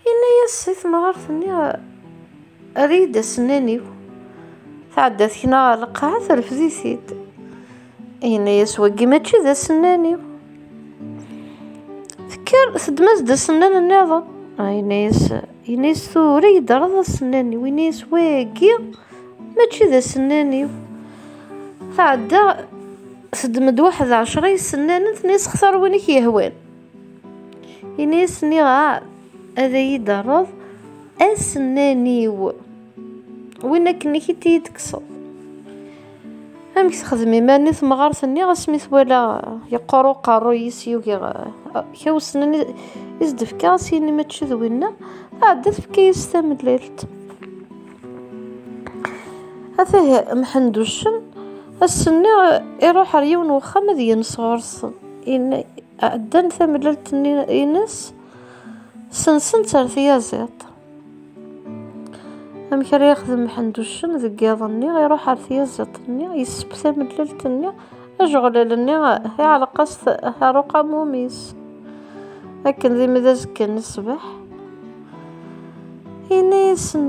Yenna-yas si temɣart-nni, err-iyi-d asennan-iw. Tɛedda tekna ɣer lqaɛa, terfed-it-id. Yenna-yas wagi mačči d asennan-iw. Tekker, teddem-as-d asennan-nniḍen. Ah, yenna-yas, yenna-yas tura iyi-d-rreḍ asennan-iw. Yenna-yas wagi mačči d asennan-iw. Tɛedda, teddem-d waḥed ɛecra isennanen, tenna-yas xtar win i k-yehwan. Ini-as nniɣ-as ad iyi-d-terreḍ asennan-iw. Win akken i k-id-tekkseḍ. Amek texdem iman-nni temɣart-nni asmi twala yeqqur uqerruy-is yugi kra usnan i s-d-tefka as yini mačči d winna tɛedda tefka-yas tamellalt. Atah Mḥenduccen ass-nni iruḥ ar yiwen wexxam ad yens ɣur-sen. Ɛeddan tamellalt-nni-ines, sensen-tt ar tyaziḍt. Amek ara yexdem Mḥend Uccen deg yiḍ-nni, iruḥ ar tyaziḍt-nni, yesseb tamellalt-nni, ajeɣlal-nni iɛelleq-as ar uqamum-is. Akken d imi d azekka n ṣṣbeḥ, yenna-yasen.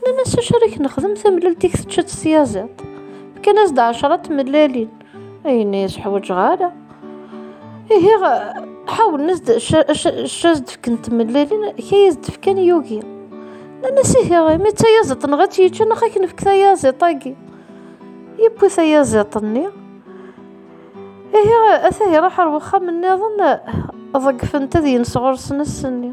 Nnan-as acu ara k-nexdem tamlalt i k-tečča s tyaziḍt. Fkan-as-d ɛecra n tmellalin. Ayen i as-ḥwaǧeɣ ara. Ihi ḥawlen-as-d acu as-d-fken tmellalin, kay as-d-fkan yugi. Nnan-as ihi imi d tayaziḍt neɣ ad tt-yečča neɣ ad k-nefk tayaziḍt-agi. Yewwi tayaziḍt-nni. Ihi ata iruḥ ar wexxam-nniḍen ḍeggfent ad yens ɣur-sen ass-nni.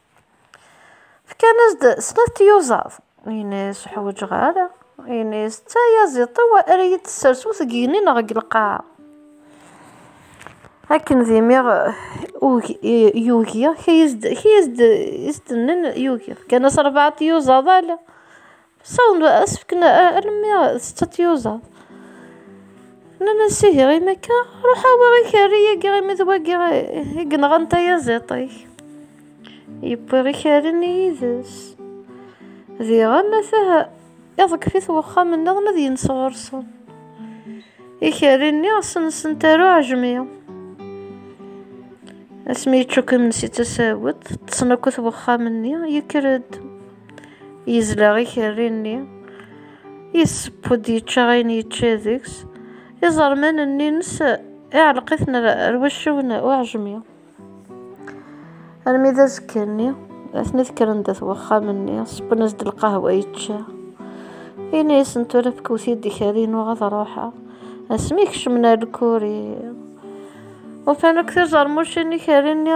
Fkan-as-d snat tyuẓaḍ. Ini-as ur ḥwaǧeɣ ara. Ini-as d tayaziḍt ara iyi-d-tessers ur tgegni neɣ deg lqaɛa. Akken d imi yugi, kiyas-d, kiyas-d, is-d-nen yugi. Fkan-as rebɛa tyuẓaḍ ala. Sawḍen asefken armi d setta n tyuẓaḍ. Nnan-as, ihi imi akka, ruḥ awiɣ ikerri-agi imi d wagi i yenɣan tayaziḍt-ik. Yewwi ikerri-nni yid-s. Diɣen atah iḍeggef-it wexxam-nniḍen ad yens ɣur-sen. Ikerri-nni sensen taru ɛejmi. Asmi yeččuk imensi d tasawet, ṭṭsen akk at wexxam-nni, yekker-d. Yezleɣ ikerri-nni. Yesseww-d yečča ayen yečča deg-s. Iẓerman-nni-ines iɛelleq-iten ar wacciw n uɛejmi. Armi d azekka-nni, atni kkren-d at wexxam-nni, sewwen-as-d lqahwa yečča. Ini-asen tura fkewt-iyi-d ikerri-inu ad ruḥeɣ. Asmi kecmen ar lkuri, ufan akk tizermucin ikerri-nni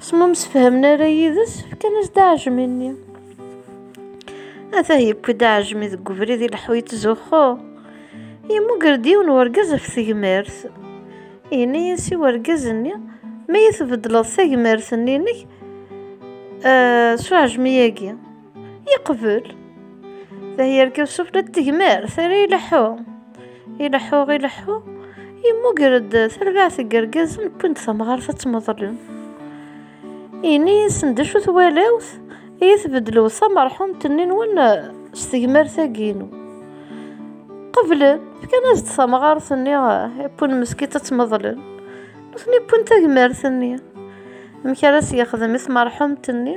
S ma msefhamen ara yid-s, fkan-as-d aɛejmi-nni. Atah yewwi-d aɛejmi deg ubrid ileḥḥu yettzuxxu. Yemmuger-d yiwen n urgaz ɣef tegmert. Yenna-as i urgaz-nni, Ma iyi-tbeddleḍ tagmert-nni-inek eh, s uɛejmi-agi. Yeqbel. Tahyirka Yusuf la d-tegmer, terra ileḥḥu. Ileḥḥu, ileḥḥu, yemmuger-d tarbaɛt n yergazen wwin-d tamɣart ad tmeḍlen. Ini-asen d acu twalawt, iyi tbeddlew tamerḥumt-nni-nwen s tegmert-agi-inu. Qeblen, fkan-as-d tamɣart-nni wwin meskitt ad tmeḍlen. Nutni wwin tagmert-nni. Amek ara s-yexdem i tmerḥumt-nni?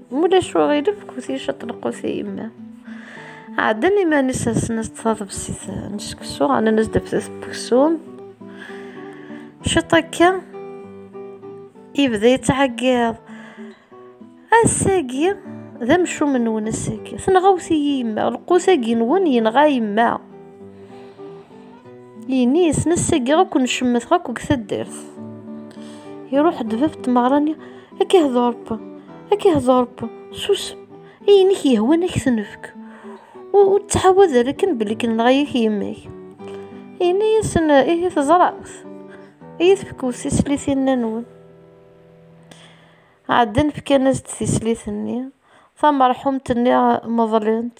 Mulac uɣilif kusi caṭelqus i yemma. Ɛeddan iman-is asen-as taḍebsit n seksu, ɛnan-as daftet n weksum. Ciṭ akka, yebda yettɛeggiḍ. Ass-agi, d amcum nwen ass-agi. Tenɣawt-iyi yemma, lqus-agi nwen yenɣa yemma. Yini yesna ssaggaɣ akk necemmeteɣ akk deg taddart. Iruḥ-d bab tmeɣra-nni, ad k-ihḍurp, ad k-ihḍurp, susem, ayen i k-yehwan ad k-t-nefk. Ur ttḥawad ara akken belli kenneɣ-ak yemma-k. Yenna-yasen, ihi teẓramt, iyi tefkew tislitin-nwen. Ɛeddan fkan-as-d tislit-nni, tamerḥumt-nni meḍlent.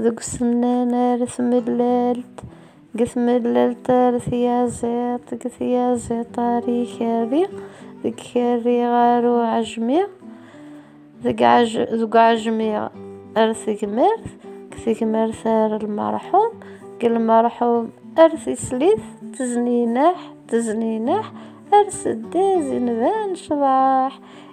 Deg usennan ar tmellalt, deg tmellalt ar tyaziḍt, deg tyaziḍt ar ikerri, deg ikerri ar uɛejmi, deg uɛejmi ar tegmert, deg tegmert ar lmerḥum, deg lmerḥum ar tislit, teznineḥ, teznineḥ ar seddaz inban ccḍeḥ.